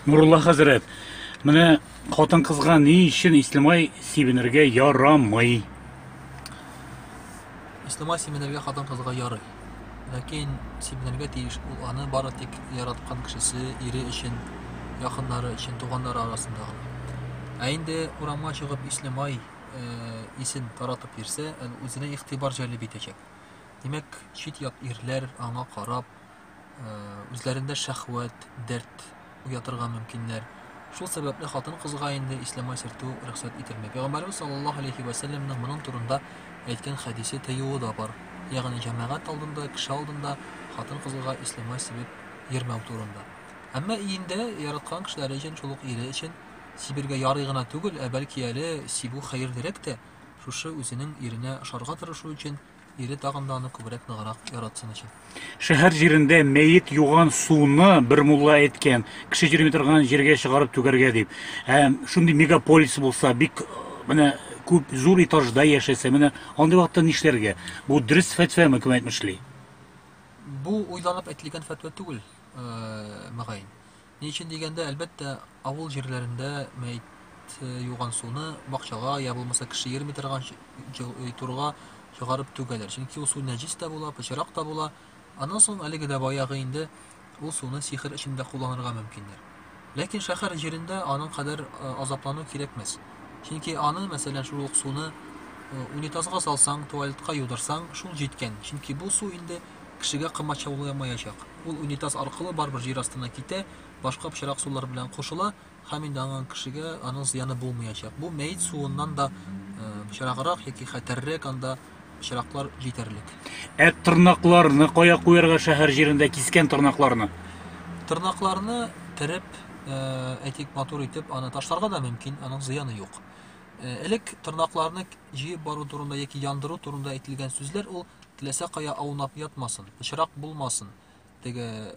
Нурулла хәзрәт, менә хатын кызга ни өчен ислемай сибенергә ярамый? Ислемай сибенергә хатын кызга ярый. Ләкин сибенергә тиеш ул аны бары тик яраткан кешесе, ире өчен, якыннары өчен, туганнары арасында гына. Ә инде урамга чыгып ислемай э, исен таратып йөрсә, әле үзенә игътибар җәлеп итәчәк. Димәк, чит-ят ирләр аңа карап, үзләрендә шәхвәт, дәрт уятырга мөмкиннәр. Шул сәбәпле хатын-кызга инде ислама сертү рөхсәт ителми. Пәйгамбәрбез саллаллаһу алейхи ва сәлләмнең моның турында әйткән хәдисе тыюы да бар. Ягъни җәмәгать алдында, кеше алдында хатын-кызга ислама сибеп йөрмәү турында. Әмма иендә яраткан кешеләре өчен, шул ук ире өчен сибергә ярый гына түгел, ә бәлки әле сибү хәерлерәк тә, Шушы үзенең иренә ошарга тырышу өчен, ире тагын да аны күбрәк ныграк яратсын өчен. Шәһәр җирендә мәет юган суны бер мулла әйткән, кеше йөрми торган җиргә чыгарып түгәргә дип. Ә шундый мегаполис булса, бик менә күп зур этажда яшәсә, менә андый вакытта нишләргә? Бу дөрес фәтвәме, кем әйтмешли? Бу уйланып әйтелгән фәтва түгел, э, мөгаен. Ни өчен дигәндә, әлбәттә, авыл җирләрендә мәет юган суны бакчага я булмаса кеше йөрми торган турга чыгарып түгәләр. Чөнки ул су нәҗис тә була, пычрак та була. Аннан соң әлеге дә баягы инде ул суны сихер өчен дә кулланырга мөмкиннәр. Ләкин шәһәр җирендә аның кадәр азаплану кирәкмәс. Чөнки аны, мәсәлән, шул ук суны унитазга салсаң, туалетка юдырсаң, шул җиткән. Чөнки бу су инде кешегә комачауламаячак. Ул унитаз аркылы барыбер җир астына китә, башка пычрак сулар белән кушыла һәм инде аңа кешегә аның зыяны булмаячак. Бу мәет суыннан да пычраграк яки хәтәррәк анда пычраклар җитәрлек. Ә тырнакларны кая куярга шәһәр җирендә кискән тырнакларны? Тырнакларны тереп, әйтик, матур итеп аны ташларга да мөмкин, аның зыяны юк. Элек тырнакларны җыеп бару турында яки яндыру турында әйтелгән сүзләр ул Теләсә кая аунап ятмасын, пычрак булмасын, теге,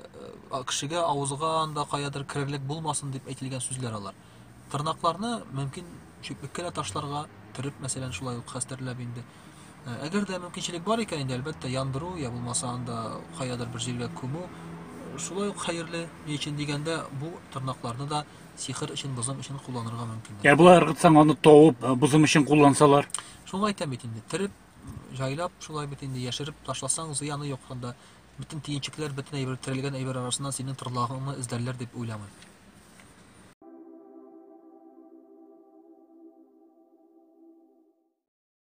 кешегә авызга анда каядыр керерлек булмасын дип әйтелгән сүзләр алар. Тырнакларны мөмкин чүплеккә дә ташларга, төреп, мәсәлән, шулай ук хәстәрләп инде. Э, әгәр дә мөмкинчелек бар икән, инде әлбәттә яндыру я булмаса анда каядыр бер җиргә күмү э, шулай ук хәерле. Ни өчен дигәндә, бу тырнакларны да сихер өчен, бозым өчен кулланырга мөмкин. Ә болай ыргытсаң, аны тавып, э, бозым өчен куллансалар? Шуны әйтәм бит инде, тереп Җайлап шулай бит инде, яшереп ташласаң, зыяны юк анда. Бөтен төенчекләр, бөтен әйбер, терелгән әйбер арасыннан синең торлагыңны эзләрләр дип уйламыйм.